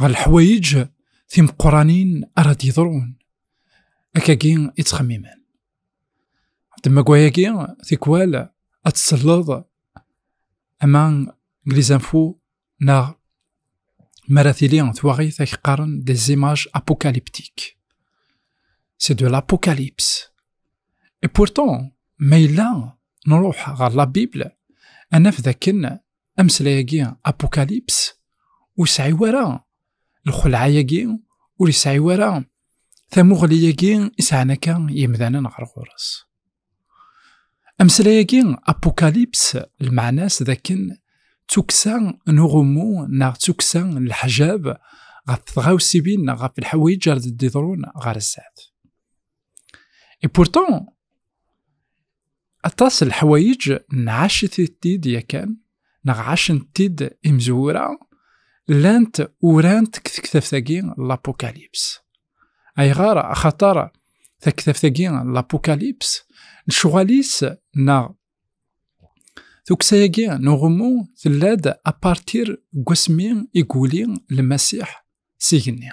ɣer leḥwayeǧ timeqqranin ara d-yeḍrun akkagi i ttxemmimen demmagwayagi tikwal ad tselleḍ ama glizenfu neɣ mara tili twaɣit ak qqaren des images apocalyptiques c'est de l'apocalypse et pourtant ma yella nruḥ ɣer la bible anaf dakken ameslay-agi apokalips ur yesɛi wara lxelɛa-agi ur yesɛi wara tamuɣli-agi i sɛan akka yimdanen ɣer ɣur-s ameslay-agi apokalips lmeɛna-s d akken tukksa n uɣummu neɣ tukksa n leḥjab ɣef tɣawsibin neɣ ɣef lḥawayeǧ ar d-d-iḍrun ɣer sdat. Et pourtant, Aṭas n leḥwayeǧ nɛacet-it-id yakan, neɣ ɛacent-id imezwura, llant urant deg tektabt-agi n Lapukalyps. Ayɣer? Axaṭer taktabt-agi n Lapukalyps, lecɣal-is neɣ tukksa-agi n uɣummu tella-d apartir n wasmi i yuli Lmasiḥ s igenni.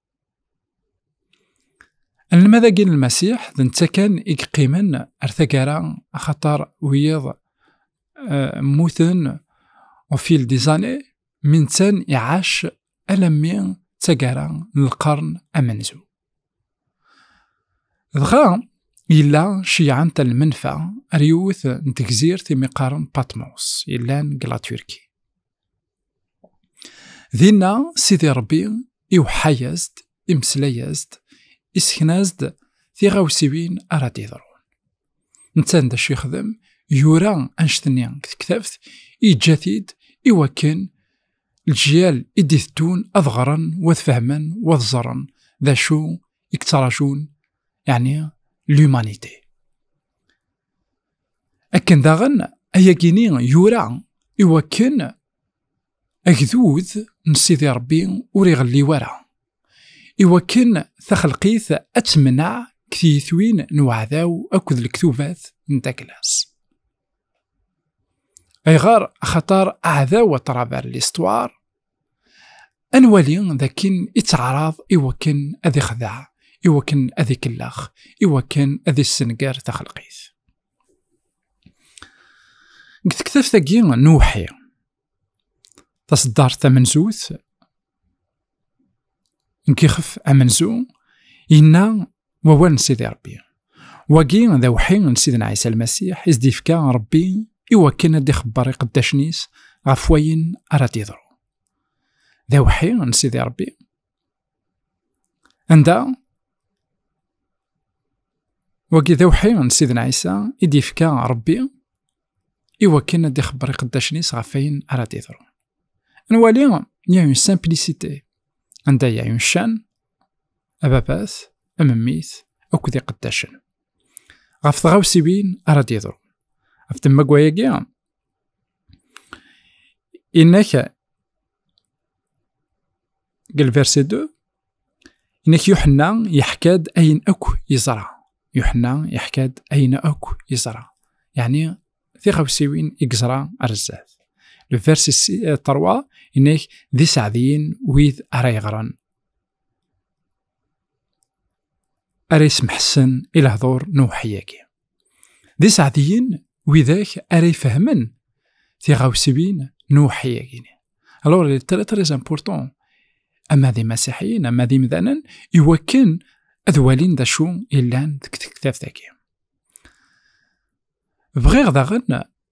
Anelmad-agi n Lmasiḥ d netta kan i yeqqimen ar taggara axaṭer wiyiḍ eh, mmuten au fil des années mi nettan iɛac alammi d taggara n lqern amenzu. Dɣa yella ceyɛent lmenfa ar yiwet n tegzirt imi qqaren Patmos yellan deg Laturki. dinna sidi ṛebbi iweḥḥa-yas-d imeslay-as-d isekna-as-d tiɣawsiwin ara d-iḍrun netta d acu yexdem yura anect-nni deg tektabt yeǧǧa-t-id i wakken lǧyal i d-iteddun ad ɣren w ad fehmen w ad ẓren d acu i yettraǧun yeɛni l'humanité akken daɣen ayagini yura iwakken agdud n Sidi Rebbi ur iɣelli wara iwakken taxelqit ad temneɛ ktiyitwin n uɛdaw akked lektubat n taklas ayɣer axaṭar aɛdaw aṭrabar listwar ad nwali dakken ittaɛraḍ i wakken ad ixdeɛ i wakken ad ikellax i wakken ad issenger taxelqit deg tektabt-agi n uwḥi taseddart tamenzut n yixef amenzu yenna wawal n Sidi Rebbi. Wagi d awḥi n Sidna Ɛisa Lmasiḥ i s-d-ifka Rebbi i wakken ad d-ixebber iqeddacen-is ɣef wayen ara d-iḍru. D awḥi n Sidi Rebbi. Anda wagi d awḥi n Sidna Ɛisa i d-ifka Rebbi i wakken ad d-ixebber iqeddacen-is ɣef wayen ara d-iḍru. Nwali, il y a une simplicité. Anda il y a une chaîne, ababas amemmis akked iqeddacen ɣef tɣawsiwin ara d-yeḍru ɣef temmagwa-agi inek deg lversi 2 inek yuḥenna yeḥka-d ayen akk yeẓra yuḥenna yeḥka-d ayen akk yeẓra yeɛni tiɣawsiwin i yeẓra ar zdat lversi 3 inek d iseɛdiyen wid ara yeɣran ara yesmeḥsen i lehdur n uweḥyagi. D iseɛdiyen widak ara ifehmen tiɣawsiwin n uweḥyagi. Alors, il est très très important ama d imasiḥiyen ama d imdanen iwakken ad walin d acu yellan deg tektabt-agi. Bɣiɣ daɣen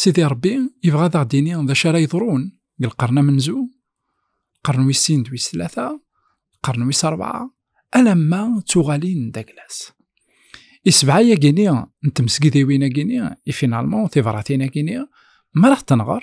Sidi Rebbi yebɣa ad aɣ-d-ini d acu ara yeḍrun deg lqern amenzu, lqern wis sin d wis tlata, lqern wis rebɛa, alamma d tuɣalin d aglas. Isebɛa-yagini n tmesgidiwin-agini, i finalman tibratin-agini, mi ara ɣ-tenɣer,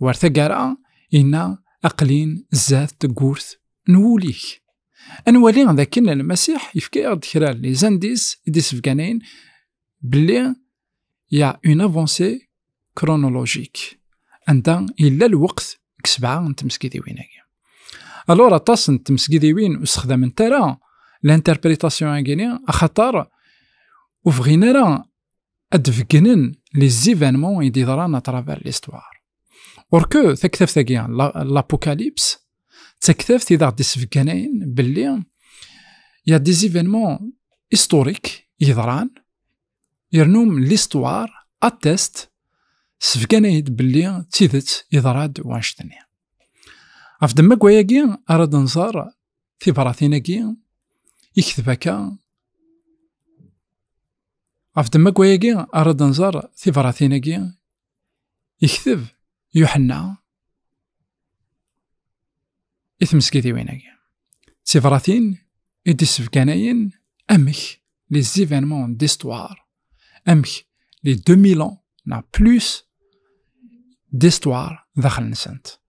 War tagara, inna aqlin zdat tegurt n wul-ik. Ad nwali d akken Lmasiḥ yefka-aɣ-d kra n lizandis i d-isebgan ayen belli ya une avancée chronologique anda yella lweqt deg sebɛa n tmesgidiwin-agi. Alors aṭas n tmesgidiwin ur sexdament ara l'interprétation agini axaṭer ur bɣin ara ad d-beggnen les événements i d-iḍran à travers l'histoire. Or que taktabt-agi, l'apocalypse, d taktabt i d-aɣ-d-isbegganayen belli il y a des événements historiques yeḍran yernum l'histoire atteste sbegganayen belli d tidet yeḍra-d wanect-nni. Ɣef ddemma n wayagi ara d-nẓer tibratin-agi ikteb akka ɣef ddemma-agi ara d-nẓer tibratin-agi ikteb Yuḥenna i tmesgidiwin-agi. Tibratin i d-issebganayen amek li zivenmon distwar, amek li demilan na plus distwar daxel-nsent.